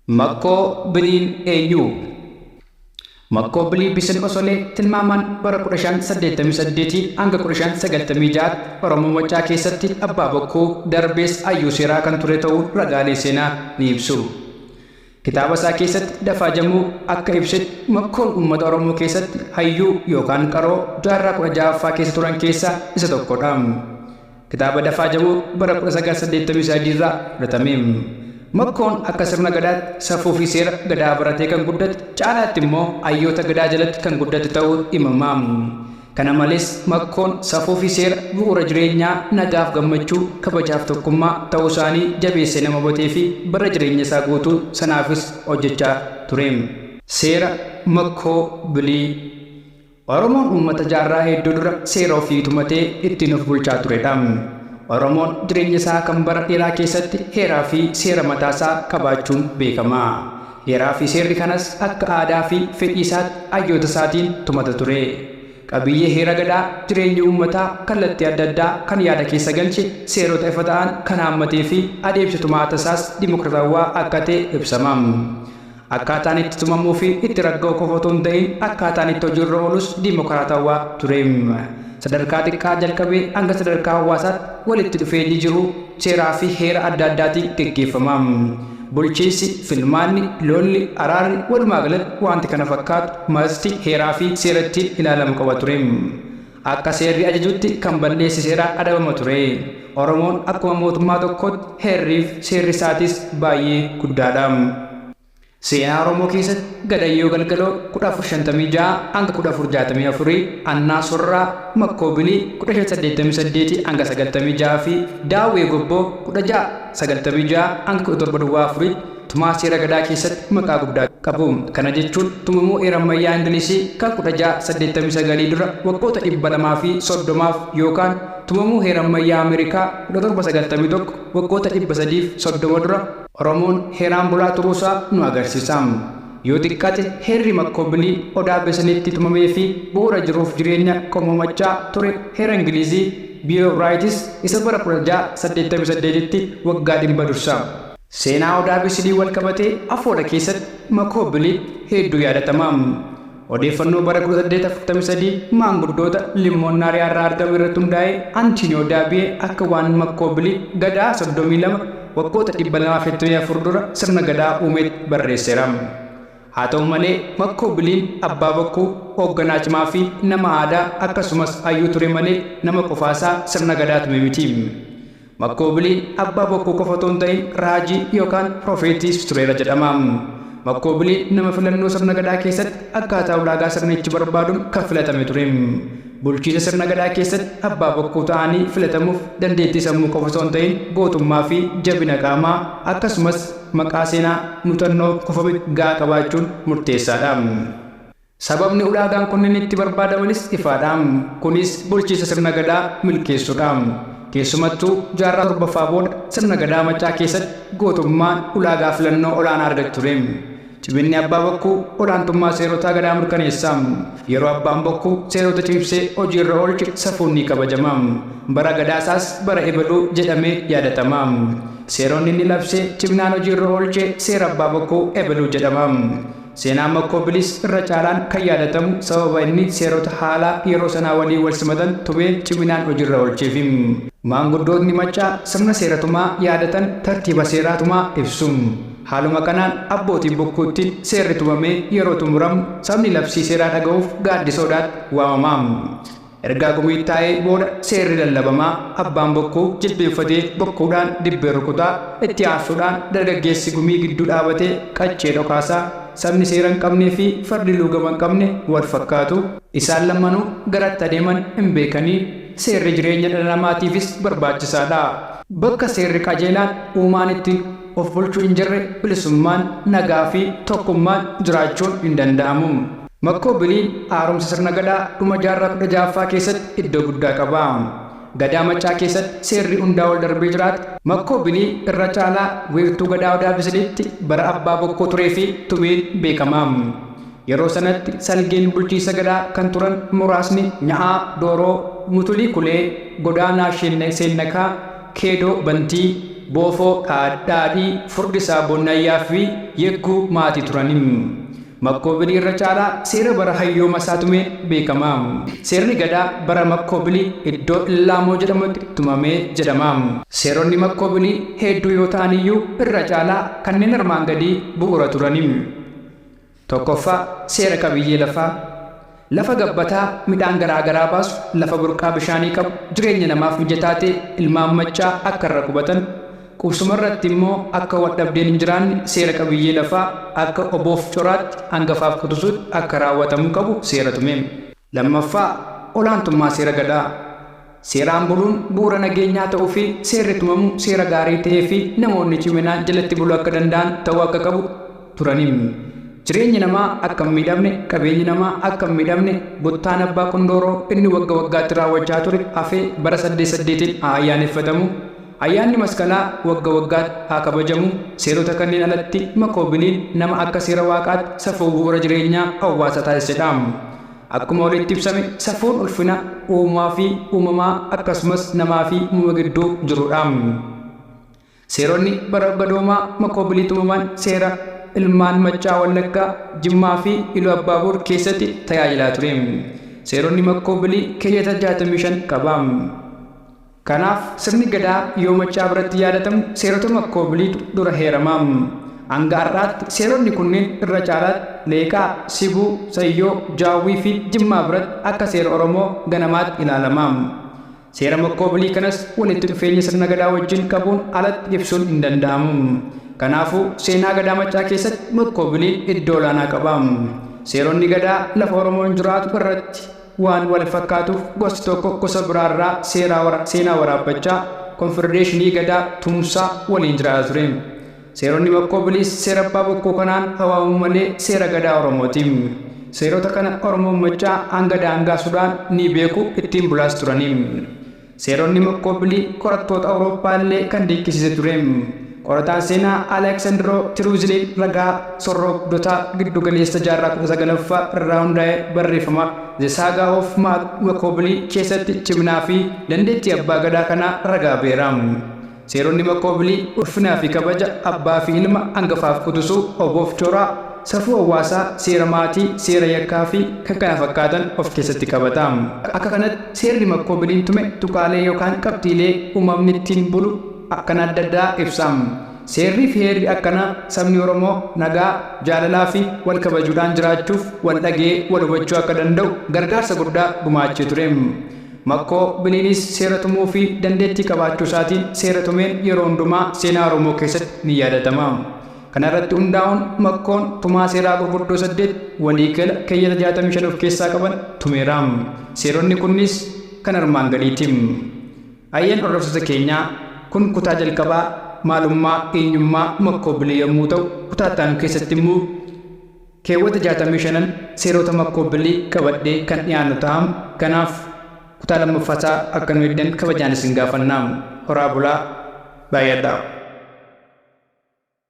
Makkoo biliin eenyuu? Makkoo bilii bisin osolee tilmaamaan bara 1588-1596tti Oromoo Maccaa keessatti Abbaa Bokkuu, darbees Ayyuu Seeraa kan ture ta'uu ragaalee seenaa ni ibsu. Kitaaba isaa keessatti Dafaa Jamuu akka ibsetti Makkoon uummata Oromoo keessatti hayyuu yookaan qaroo jaarraa 16ffaa keessa turan keessaa isa tokkodha. Kitaaba Dafaa jedhu bara 1983 irraa fudhatame. Makkoon akka sirna Gadaatti safuu fi seera Gadaa baratee kan guddate, caalaatti immoo hayyoota Gadaa jalatti kan guddate ta'uu himama. Kana malees, Makkoon safuu fi seera bu'uura jireenyaa nagaaf gammachuu, kabajaaf tokkummaa ta'uu isaanii jabeessee nama hubatee fi bara jireenya isaa guutuu sanaafis hojjechaa ture. Seera Makkoo Bilii. Oromoon uummata jaarraa hedduu dura seera ofii tumatee ittiin of bulchaa turedha. Oromoon jireenya isaa kan bara dheeraa keessatti heeraa fi seera mataa isaa qabaachuun beekama. Heeraa fi seerri kanas akka aadaa fi fedhii isaatti hayyoota isaatiin tumata ture. Qabiyyee heera Gadaa jireenya uummataa kallattii adda addaa kan yaada keessa galche, seerota ifa ta'an kan haammatee fi adeemsi tumaata isaas dimokratawwaa akka ta'e ibsama. Akkaataan itti tumamuu fi itti ragga'u qofa utuu hin ta'in akkaataan itti hojii irra oolus dimokiraatawwaa ture. Sadarkaa xiqqaa jalqabee hanga sadarkaa hawaasaatti walitti dhufeenyi jiru seeraa fi heera adda addaatiin geggeeffama. Bulchiinsi, filmaanni, lolli, araarri, walumaa galatti waanti kana fakkaatu marti heeraa fi seera ittiin ilaalamu qaba ture. Akka seerri ajajutti kan balleesse seeraan adabama ture. Oromoon akkuma mootummaa tokkootti heerriif seerri isaatis baay'ee guddaadha. Seenaa Oromoo keessatti Gadayyoo Galgaloo 1456-1464, Annaa Sorraa, Makkoo Bilii 1588-96 fi Daawwee Gobboo 1696-17 duwwaa 4tti, Tumaa seera Gadaa keessatti maqaa guddaa qabu. Kana jechuun tumamuu heera ammayyaa Ingilizii kan 1689 dura waggoota 230f yookaan tumamuu heera ammayyaa Ameerikaa 1791 waggoota 330 dura Oromoon heeraan bulaa turuusaa nu agarsiisa. Yoo xiqqaate heerri Makkoobilii Odaa Beseleetti tumameefi bu'uura jiruuf jireenya Qomoo Maccaa ture heera Ingilizii, Bill of Rights, isa bara 1688tti waggaa dhibba dursa. Seenaa Odaa Bisilii walqabatee Afoodha keessatti Makoo Biliit heedduu yaadatama. Odeeffannoo bara 1843 maanguddoota Limmoon Naariyaa irraa argame irratti hundaa'ee Antiiniyoo Daabiyee akka waan Makkoo Biliit Gadaa 32 waggoota 224 dura sirna Gadaa uumeetti barreesseera. Haa ta'u malee Makkoo Biliin abbaa bokkuu, hoogganaa cimaa fi nama aadaa akkasumas hayyuu ture malee nama qofaasaa sirna Gadaa tume miti. Makkoobiliin abbaa bokkuu qofa otoo hin ta'in raajii yookaan profeetiis tureera jedhama. Makkoobiliin nama filannoo sirna gadaa keessatti akkaataa ulaagaa sirnichi barbaadun kan filatame ture. Bulchiisa sirna gadaa keessatti abbaa bokkuu ta'anii filatamuuf dandeettii sammuu qofa osoo hin ta'in gootummaa fi jabina qaamaa akkasumas maqaa seenaa, mutannoo, kufame ga'aa qabaachuun murteessaadha. Sababni ulaagaan kunneen itti barbaadamanis ifaadha. Kunis bulchiinsa Sirna Gadaa milkeessuudha. Keessumattuu jaarraa 7ffaa booda Sirna Gadaa Maccaa keessatti gootummaan ulaagaa filannoo olaanaa argate ture. Ciminni Abbaa Bokkuu olaantummaa seerotaa Gadaa mirkaneessa. Yeroo Abbaan Bokkuu seerota cimsee hojiirra oolche safuun ni kabajama. Bara Gadaasaas bara ebaluu jedhamee yaadatama. Seeronni inni labsee ciminaan hojiirra oolche seera Abbaa Bokkuu ebaluu jedhama. Seenaan Makkoo Bilis irra caalaan kan yaadatamu sababa inni seerota haalaa yeroo sanaa waliin walsimatan tumee ciminaan hojirra oolcheefi. Maanguddootni Maccaa sirna seera tumaa yaadatan tartiiba seeraa tumaa ibsu. Haaluma kanaan abbootiin bokkuuttiin seerri tumamee yeroo xumuramu sabni labsii seeraa dhagahuuf Gaaddisa Odaatti waamama. Ergaa gumiit taa'ee booda seerri lallabama, abbaan bokkuu jilbeenfatee bokkuudhaan dibbee rukuta, itti aansuudhaan dargaggeessi gumii gidduu dhaabatee qaccee dhokaasa. Sabni seera hin qabnee fi fardi luugama hin qabne wal fakkaatu. Isaan lammanuu gara itti adeeman hin beekani. Seerri jireenya dhala namaatiifis barbaachisaa dha. Bakka seerri qajeelaan uumaan ittiin of bulchu hin jirre bilisummaan, nagaa fi tokkummaan jiraachuun hin danda'amu. Makkoo Biliil haaromsa sirna Gadaa dhuma jaarraa 16ffaa keessatti iddoo guddaa qaba. Gadaa Maccaa keessatti seerri hundaa ol darbee jiraate Makkoo Biliil irra caalaa wiirtuu Gadaa Odaa Bisiliitti bara Abbaa Bokkuu tureefi tumeen beekama. Yeroo sanatti salgeen bulchiinsa Gadaa kan turan muraasni Nya'aa, Dooroo, Mutulii Kulee, Godaanaa Sheennee Seennakaa, Keedoo Bantii, Boofoo Dhaadhii, Furdisaa Bonnayyaa fi Yegguu Maatii turani. Makkoobili irra caalaa seera bara hayyooma isaa tumeen beekama. Seerri Gadaa bara Makkoobili iddoo Illaamoo jedhamutti tumame jedhama. Seeronni Makkoobili heedduu yoo ta'an iyyuu irra caalaa kanneen armaan gadii bu'uura turani. 1ffaa Seera qabiyyee lafaa. Lafa gabbataa midhaan garaa garaa baasu, lafa burqaa bishaanii qabu, jireenya namaaf mijataa ta'e ilmaan Maccaa akka irra qubatan, qubsuma irratti immoo akka waldhabdeen hin jiraanne seera qabiyyee lafaa akka oboof coraatti, angafaaf quxusuutti akka raawwatamuu qabu seera tume. 2ffaa, Olaantummaa seera Gadaa. Seeraan buluun bu'uura nageenyaa ta'uu fi seerri tumamu seera gaarii ta'ee fi namoonni ciminaan jalatti buluu akka danda'an ta'uu akka qabu turani. Jireenyi namaa akka hin miidhamne, qabeenyi namaa akka hin miidhamne buttaan abbaa Qundooroo inni wagga waggaatti raawwachaa ture hafee bara saddeet saddeetiin haa ayyaaneffatamu, ayyaanni Masqalaa wagga waggaatti haa kabajamu, seerota kanneen alatti makoobiliin nama akka seera Waaqaatti safuu bu'uura jireenyaa hawwaasa taasise dha. Akkuma olitti ibsame safuun ulfina uumaa fi uumamaa akkasumas namaa fi uumama gidduu jirudha. Seeronni barabadoomaa makoobilii tumaman seera ilmaan Maccaa Wallaggaa, Jimmaa fi Iluu Abbaaboor keessatti tajaajilaa ture. Seeronni makkoobilii keeyyata 65 qaba. Kanaaf sirni Gadaa yoo Maccaa biratti yaadatamu seerotuma Koobiliitu dura heerama. Hanga har'aatti seeronni kunniin irra caalaatti Leeqaa, Sibuu, Sayyoo, Jaawwiifi Jimmaa biratti akka seera Oromoo ganamaatti ilaalama. Seerama Koobilii kanas walitti dhufeenya sirna Gadaa wajjin qabuun alatti ibsuun hindanda'amu. Kanaafuu seenaa Gadaa Maccaa keessatti Koobiliin iddoo olaanaa qaba. Seeronni Gadaa lafa Oromoon jiraatu irratti. Waan wal fakkaatuuf gosti tokko gosa biraa irraa seeraa wara seenaa waraabbachaa, konfedereeshinii Gadaa, tumsaa, waliin jiraata ture. Seeronni Makkoo Biliis seera Abbaa Bokkuu kanaan haa waamamu malee seera Gadaa Oromoo ti. Seerota kana Oromoon Maccaa hanga daangaa Sudaan ni beeku, ittiin bulaas turani. Seeronni Makkoopilii qorattoota Awurooppaa illee kan dinqisiise ture. Qorataan seenaa Aleksandiroo Tiruuziliin ragaa sorroogdotaa giddu galeessa jaarraa 19ffaa irraa hundaa'e barreeffama The Saga of Mark Makkoopilii keessatti ciminaa fi dandeettii abbaa gadaa kanaa ragaa ba'eera. Seeronni maqoobilii ulfinaa fi kabaja abbaa fi ilma angafaaf qutusuu oboof coraa, safuu hawaasaa, seera maatii, seera yakkaa fi kkf of keessatti qabata. Akka kanatti seerri maqoobiliin tume tuqaalee yookaan qabxiilee uumamni ittiin bulu akkana adda addaa ibsa. Seerrii fi heerri akkanaa sabni Oromoo nagaa, jaalalaa fi wal kabajuudhaan jiraachuuf wal dhagee wal hubachuu akka danda'u gargaarsa guddaa gumaachee ture. Makkoo Biliinis seera tumuu fi dandeettii qabaachuu isaatiin seera tumeen yeroo hundumaa seenaa Oromoo keessatti ni yaadatama. Kana irratti hundaa'uun Makkoon tumaa seeraa gurguddoo saddeet walii gala keeyyata 65 of keessaa qaban tumeera. Seeronni kunniis kan armaan gadiiti. Ayyeen hordoftoota keenyaa kun kutaa jalqabaa maalummaa, eenyummaa, Makkoo Bilii yommuu ta'u kutaa itti aanu keessatti immoo, Keewwata 65n seeroota makkoobilli qabadhee kan dhiyaannu taha. Kanaaf kutaa 2ffaa isaa akka nu eegdan kabajaan isin gaafanna. Horaa bulaa. Baay'adhaa.